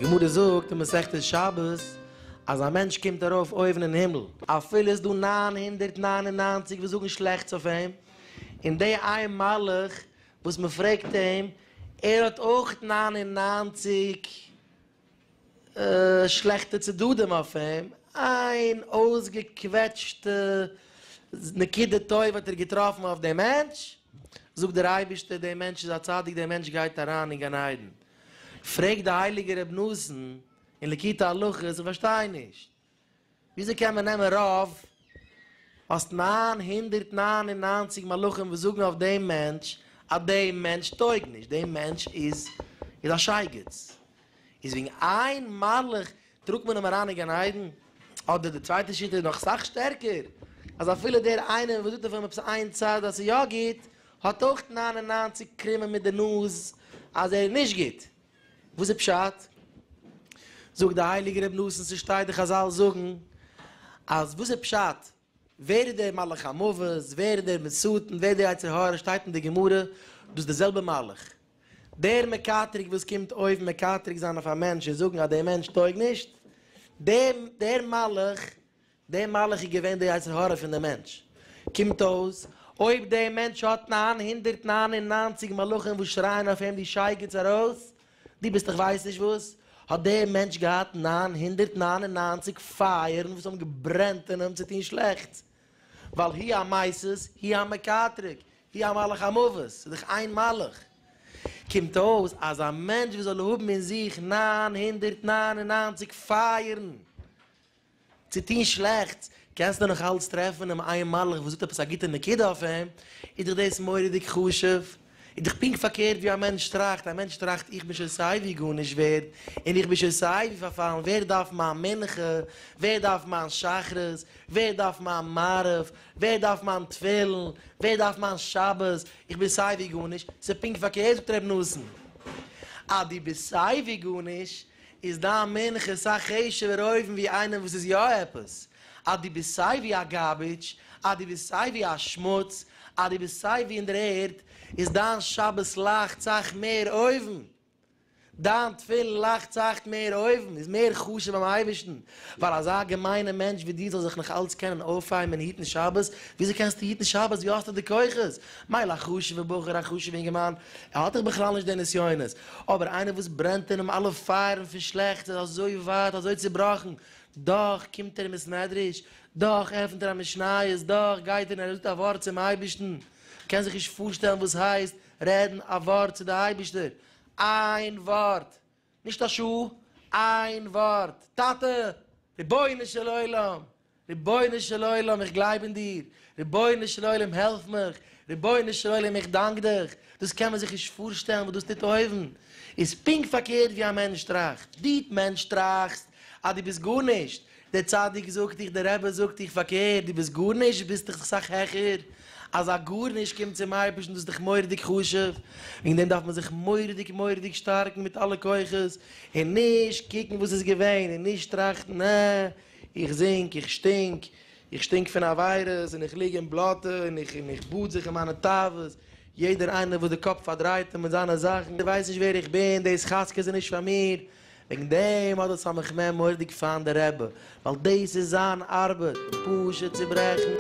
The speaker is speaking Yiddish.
גמרא זאגט אין מסכת שבת אז א מענטש קומט ארויף אויבן אין הימל אפילו איז דא נײַן הונדערט נײַן און נײַנציק וואס זאגן שלעכטס אויף אים, און די איין מלאך וואס מען פרעגט אים ער האט אויך נײַן און נײַנציק. שלעכטע צדדים אויף אים, איין אויסגעקוועטשטע נקודה טובה האט ער געטראפן אויף דעם מענטש, זאגט דער אייבערשטער דער מענטש איז א צדיק דער מענטש גייט אריין אין גן עדן, פרעגט די הייליגע רבי נתן אין ליקוטי הלכות איך פארשטיי נישט. וויאזוי קען מען נעמען רוב? האסט נײַן הונדערט נײַן און נײַנציק מלאכים וואס זאגן אויף דעם מענטש אז דעם מענטש טויג נישט, דעם מענטש איז איז א שייגעץ. איז וועגן איין מלאך טראגט מען אים אריין אין גן עדן? אדער די צווייטע שיטה איז נאך סאך שטערקער, אז אפילו דער איינער וואס זאגט אויף אים עפעס איין צד אז ס'איז יא גוט, האט אויך נײַן און נײַנציק קרומע מיט די נאז אז ער איז נישט גוט. וואס איז פשט? זאגט דער הייליגער רבי נתן ס'שטייט די חזל זאגן אז וואס איז פשט? ווער איז דער מלאך המוות? ווער איז דער משׂטן? ווער איז דער יצר הרע? שטייט אין די גמרא דאס די זעלבע מלאך דער מקטרג וואס קומט אויבן מקטרג זיין אויף א מענטש און זאגן אז דער מענטש טויג נישט דער דער מלאך דער מלאך איז געווען דער יצר הרע פון דעם מענטש. קומט אויס, אויב דער מענטש האט נײַן הונדערט נײַן און נײַנציק מלאכים וואס שרייען אויף אים די שייגעץ ארויס, דו ביסט איך ווייס נישט וואס, האט דער מענטש געהאט נײַן הונדערט נײַן און נײַנציק פייערן וואס האבן געברענט אין אים צו טון שלעכטס. ווייל היא המסית, היא המקטרג, היא המלאך המוות, ס'איז דאך איין מלאך. קומט אויס, אז א מענטש וואס זאל האבן אין זיך נײַן הונדערט נײַן און נײַנציק פייערן, צו טון שלעכטס, קענסט דען נאך אלץ טרעפן דעם איין מלאך וואס זאגט עפעס א גוטע נקודה אויף אים, איז דאך דאס מורא'דיג חשוב, איז דאך פונקט פארקערט ווי א מענטש טראכט, א מענטש טראכט איך בין שוין סיי ווי גארנישט ווערד, און איך בין שוין סיי ווי פארפאלן, ווער דארף מיין מנחה, ווער דארף מיין שחרית, ווער דארף מיין מעריב, ווער דארף מיין תפילין, ווער דארף מיין שבת, איך בין סיי ווי גארנישט, ס'איז פונקט פארקערט זאגט ר' נתן, אז דו ביסט סיי ווי גארנישט, איז דיין מנחה סאך חשוב'ער אויבן ווי איינעם וואס איז יא עפעס, אז דו ביסט סיי ווי א גארביטש, אז דו ביסט סיי ווי א שמוץ, אז דו ביסט סיי ווי אין דער ערד, איז דיין שבת לייכט סאך מער אויבן, דיין תפילין לייכט סאכט מער אויבן, איז מער חשוב ביים אייבערשטן ווייל אזא געמיינע מענטש ווי דיר זאל זיך נאך אלץ קענען אויפהייבן און היטן שבת? וויאזוי קענסטו היטן שבת? ווי האסטו די כוחות? מילא א חשוב'ע בחור, א חשוב'ע אינגערמאן, ער האט דאך בכלל נישט די נסיונות, אבער איינער וואס ברענט אין אים אלע פייערן פון שלעכטס איז אזוי ווייט, אזוי צובראכן, דאך קומט ער אין בית מדרש, דאך עפנט ער א משניות, דאך גייט ער און ער זאגט א ווארט צום אייבערשטן, קען זיך נישט פארשטעלן וואס הייסט רעדן א ווארט צו די אייבערשטער, איין ווארט, נישט א שעה, איין ווארט, טאטע! רבונו של עולם! רבונו של עולם! איך גלייב אין דיר! רבונו של עולם! העלף מיך! רבונו של עולם! איך דאנק דיך! דאס קען מען זיך נישט פארשטעלן וואס דאס טוט אויבן! איז פונקט פארקערט ווי א מענטש טראכט. דו מענטש טראכסט אז דו ביסט גארנישט, דער צדיק זאגט איך, דער רבי זאגט איך פארקערט, דו ביסט גארנישט, ביסט דיך סאך העכער, אזא גארנישט קומט צום אייבערשטן דאס איז דיך מורא'דיג חשוב, וועגן דעם דארף מען זיך מורא'דיג מורא'דיג שטארקן מיט אלע כוחות, און נישט קוקן וואס איז געווען, און נישט טראכטן אה, איך זינק, איך שטינק, איך שטינק פון עבירות, און איך ליג אין בלאטע, און איך און איך באד זיך אין מיינע תאוות, יעדער איינער וואס די קאפ פארדרייט אים מיט זיינע זאכן, ווייסט נישט ווער איך בין, דאס חזקה איז נישט פאר מיר, וועגן דעם האט דער סמך מם מורא'דיג פיינט די רבי, ווייל דאס איז זיין ארבעט, פשוט צוברעכן.